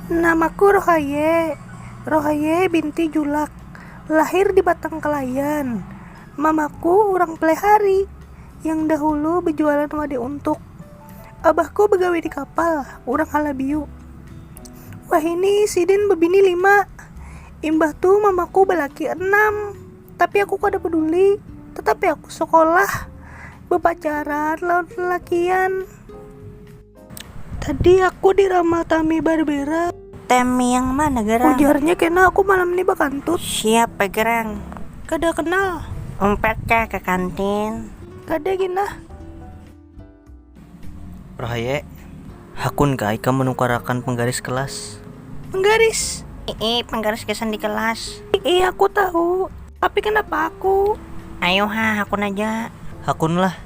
Namaku Rohaye. Rohaye binti Julak. Lahir di Batang Kelayan. Mamaku urang Plehari yang dahulu bejualan wade untuk. Abahku begawi di kapal, urang Halabiu. Wahini sidin bebini lima. Imbah tu mamaku balaki anam. Tapi aku kada peduli. Tetapi aku sekolah. Bepacaran lawan lelakian. Tadi aku di ramal Tami Barbera. Tami yang mana gerang? Ujarnya kena aku malam ni bakantut. Siapa gerang? Kada kenal. Umpat kah ka kantin? Kada gin nah. Rahaye, hakun kah ikam manukarakan panggaris kelas? Panggaris? Iih, panggaris gasan di kelas. Iih, aku tahu. Tapi kanapa aku? Ayu ha, hakun aja. Hakun lah.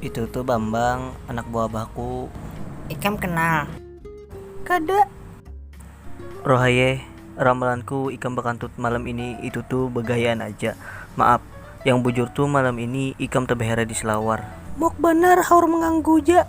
Itu tu Bambang, anak buah abahku. Ikam kenal? Kada. Rohaye, ramalanku ikam bakantut malam ini itu tu bagayaan aja. Maap, yang bujur tu malam ini ikam tabahera di selawar. Mok banar haur manganggu ja.